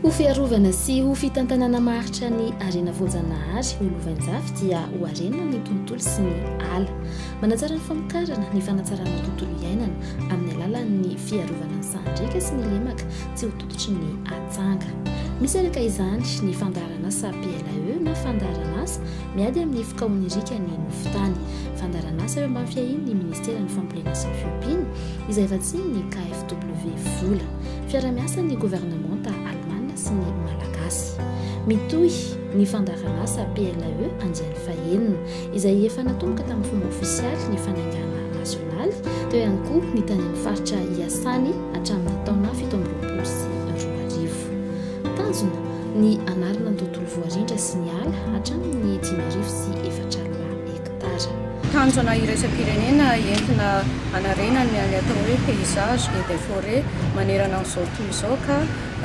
Ho fiarovana sy ho fitantanana maharitra ny harena voajanahary ho lovain-jafy dia ho harena ny tontolo sy ny ala. Manatsara ny famokarana ny fanatsarana tontolo iainana amin'ny alalan'ny fiarovana ny sahan-driaka sy ny lemaka tsy ho tototry ny atsanga. Misy araka izany ny fandaharanasa PLAE na fandaharanasa miady amin'ny fikaon'iriaka ny nofon-tany, fandaharanasa eo ambany fiahian'ny Ministeran'ny Fambolena sy ny Fiompiana, izay vatsian'ny KfW vola. Fiaraha-miasan'ny governemanta alemana sy ny malagasy. Mitohy ny fandaharanasa PLAE andiany fahenina. izay efa natomboka tamin'ny fomba ofisialy ny fanangana Nasionaly, teo ihany koa ny tany amin'ny faritra iasany hatramin'ny taona fito amby roapolo sy roa arivo. Tanjona ny hanarina ny tontolo voarindra sy ny ala hatramin'ny dimy arivo sy efatra alina hektara. Tanjona iraisam-pirenena entina hanarenana ny atao hoe paysage et des forêts manerana an'izao tontolo izao ka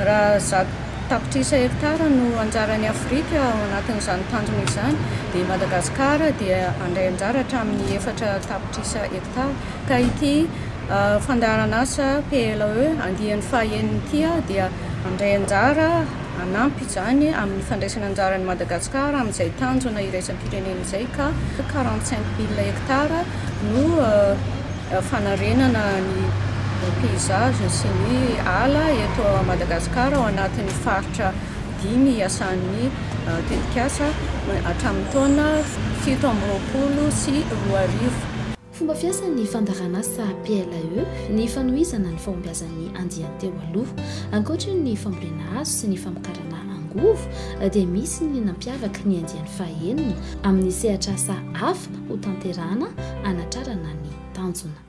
Raha zato tapitrisa hektara no anjaran'i Afrika ao anatin'izany tanjona izany, dia i Madagasikara dia handray anjara hatramin'ny efatra tapitrisa hektara. Ka ity fandaharan'asa PLAE andiany fahenina ity dia handray anjara hanampy izany amin'ny fandraisana anjara an'i Madagasikara amin'izay tanjona iraisam-pirenena izay ka quarante cinq mille hektara no fanarenana ny paysage sy ny ala eto Madagascar ao anatin'ny faritra dimy iasan'ny tetikasa hatramin'ny taona fito amby roapolo sy roa arivo. Fomba fiasan'ny fandaharanasa PLAE ny fanohizana ny fahombiazan'ny andian-teo aloha. Ankoatry ny fambolena hazo sy ny famokarana angovo dia misy ny nampiavaka ny andiany fahaenina amin'ny sehatr'asa hafa, hotanterahana hanatrarana ny tanjona.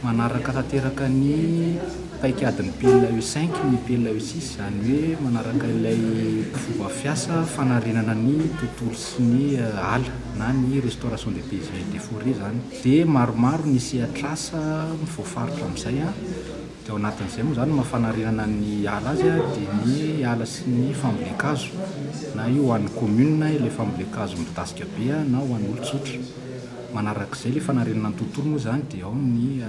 Manaraka tanteraka ny paikadin'ny PLAE cinq ny PLAE six, izany hoe manaraka ilay fomba fiasa fanarenana ny tontolo sy ny ala na ny restauration des paysages et des forets izany dia maromaro ny sehatr'asa voafaritra amin'izay. Dia ao anatin'izay moa izany no maha fanarenana ny ala azy dia ny ala sy ny fambolen-kazo. Na io ho an'ny kaominina ilay fambolen-kazo midadasika be na ho an'olon-tsotra. Manarak'izay ilay fanarenana ny tontolo moa izany dia ao ny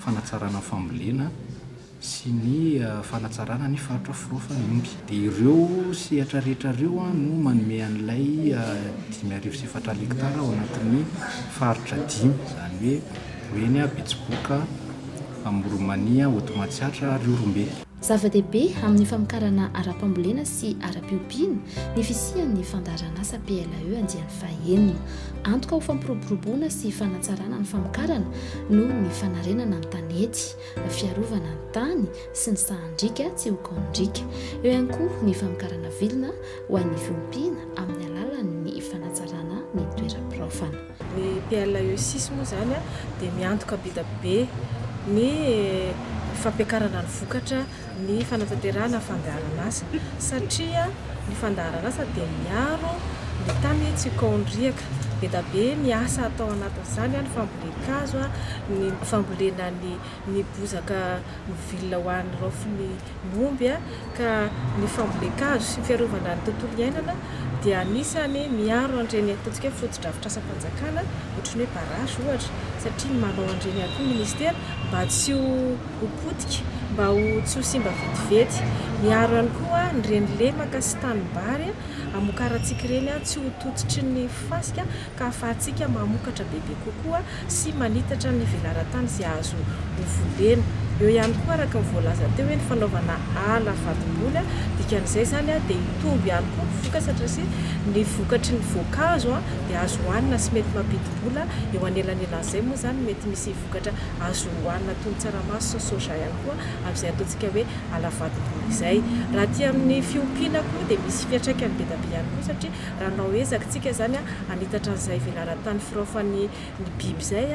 fanatsarana ny fambolena sy ny fanatsarana ny faritra firaofan'ny omby. Dia ireo sehatra rehetra ireo no manome an'ilay dimy arivo sy efatra aly hektara ao anatin'ny faritra dimy. Izany hoe. Voeny a Betsiboka Amoromania Hotomatsiatra ary Ihorombe. Zava-dehibe amin'ny famokarana ara-pambolena sy ara-piompiana ny fisian'ny fandaharanasa PLAE andiany fahaenina. Antoka ho fampiroboroboana sy fanatsarana ny famokarana noho ny fanarenana ny tanety, fiarovana ny tany sy ny sahan-driaka tsy ho kaonin-driaka. Eo ihany koa ny famokarana vilona ho an'ny fiompiana amin'ny alalan'ny fanatsarana ny toeram-piraofana. Ny PLESIS moa izany dia miantoka bidabe ny fampiakarana ny vokatra, ny fanatanterahana fandaharan'asa satria ny fandaharan'asa dia miaro ny tany tsy ho kaon'ny riaka. Bidabe ny asa atao anatin'izany, ny fambolen-kazo, ny fambolena ny bozaka miville ho an'ny raofiny. ny omby ka ny fambolen-kazo sy ny fiarovana ny tontolo iainana dia anisany miaro an'ireny ataontsika hoe fotodrafitrasam-panjakana ohatry ny hoe barrage ohatra satria manao an'ireny ihany koa ny ministera mba tsy ho potika mba ho tsy ho simba vetivety miaro ihany koa ny reny lemaka sy tanimbary amokarantsika ireny tsy ho tototry ny fasika ka ahafahantsika mamokatra bebe kokoa sy manitatra ny velaran-tany izay azo ho volena. Eo ihany koa araka ny voalaza teo hoe ny fanaovana ala vadim-boly, dikan'izay izany dia hitombo ihany koa ny vokatra satria ny vokatry ny voankazo dia azo hohanina sy mety mampidi-bola, eo anelanelan'izay moa izany mety misy vokatra azo hohanina toy ny tsaramaso sy soja ihany koa amin'izay ataontsika hoe ala vadim-boly izay. Raha aty amin'ny fiompiana koa dia misy fiantraikany be dia be ihany koa satria. Raha anao ezaka tsika zany hanitatra an'izay velaran-tany firaofan'ny ny biby izay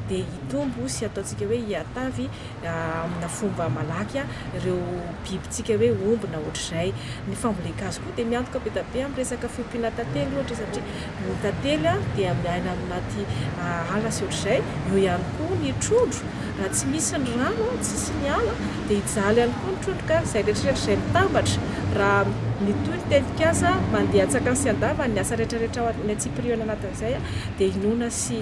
dia hitombo sy ataontsika hoe hiatavy amina fomba malaky ireo bibintsika hoe omby na ohatr'izay. Ny fambolen-kazo koa dia miantoka be da be amin'ny resaka fiompiana tantely ohatra satria ny tantely dia miaina anaty ala sy ohatr'izay. Eo ihany koa ny trondro Raha tsy misy ny rano, tsisy ny ala, dia hijaly ihany koa ny trondroka, izay eritreretro izay mitambatra, raha mitohy ny tetikasa, mandeha antsakany sy andavany ny asa rehetrarehetra ao amin'ny antsipiriany anatin'izay, dia inoana sy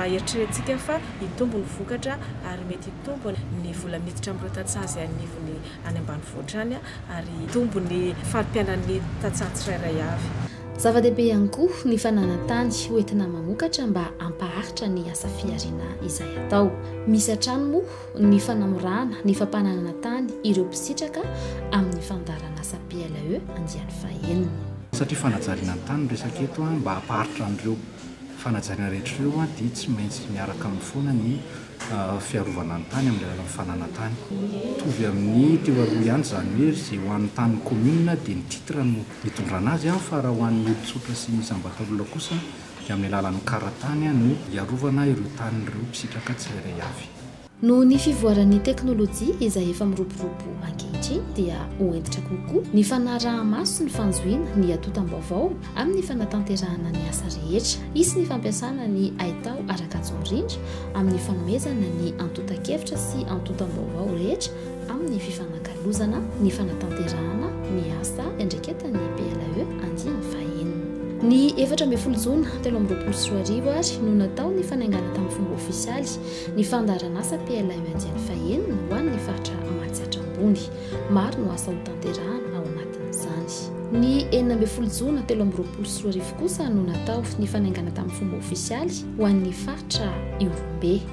eritreretintsika fa hitombo ny vokatra ary mety hitombo ny vola miditra amin'ireo tantsaha izay anivon'ny any ambanivohitra any ary hitombo ny fari-piainan'ny tantsaha tsirairay avy. Zava-dehibe ihany koa ny fananan-tany hoentina mamokatra mba hampaharitra ny asa fihariana izay atao. Misy hatrany moa ny fanamorana ny fampananana tany ireo mpisitraka amin'ny fandaharanasa PLE andiany fahenina. Satria fanajariana ny tany no resaka eto, mba hampaharitra an'ireo fanajariana rehetra ireo dia tsy maintsy miaraka aminy foana ny fiarovana ny tany amin'ny alalan'ny fananan-tany. Mitovy amin'ny teo aloha ihany izany hoe izay ho an'ny tanin'ny commune dia ny titre no Nitondrana azy aho fa raha ho an'ny olon-tsotra sy ny isam-batan'olona kosa dia amin'ny alalan'ny kara-tany no hiarovana ireo tanin'ireo mpisitraka tsirairay avy. Noho ny fivoaran'ny teknolojia izay efa miroborobo ankehitriny dia ho hentitra kokoa ny fanaraha-maso sy ny fanjohiana ny atotam-baovao amin'ny fanatanterahana ny asa rehetra. Hisy ny fampiasana ny haitao ara-kajin-drindra amin'ny fanomezana ny antontan-kevitra sy antontam-baovao rehetra amin'ny fifanakalozana ny fanatanterahana ny asa iandraiketan'ny PLAE andiany fahenina. Ny efatra ambin'ny folo jona telo amby roapolo sy roa arivo ary no natao ny fanaingana tamin'ny fomba ofisialy ny fandaharanasa PLAE andiany fahenina ho an'ny faritra Matsiatra Ambony. Maro no asa hotanterahana ao anatin'izany. Ny enina ambin'ny folo jona telo amby roapolo sy roa arivo kosa no natao ny fanaingana tamin'ny fomba ofisialy ho an'ny faritra Ihorombe.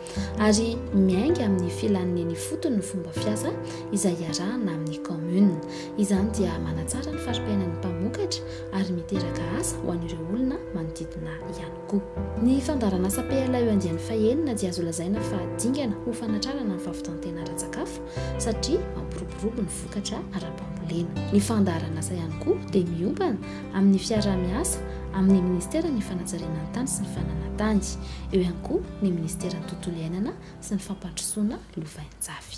ary miainga amin'ny filan'ny eny ifotony ny fomba fiasa izay iarahana amin'ny kaominina. Izany dia manatsara ny fari-piainan'ny mpamokatra ary miteraka asa ho an'ireo olona manodidina ihany koa. Ny fandaharanasa PLAE andiany fahenina dia azo lazaina fa dingana ho fanatrarana ny fahavitan-tena ara-tsakafo satria mampiroborobo ny vokatra ara-pambolena. Ny fandaharanasa ihany koa dia miompana amin'ny fiaraha-miasa amin'ny Ministeran'ny Fanajariana ny Tany sy ny Fananantany. Eo ihany koa ny minisiteran'ny Tontolo iainana sy ny fampandrosoana lovainjafy.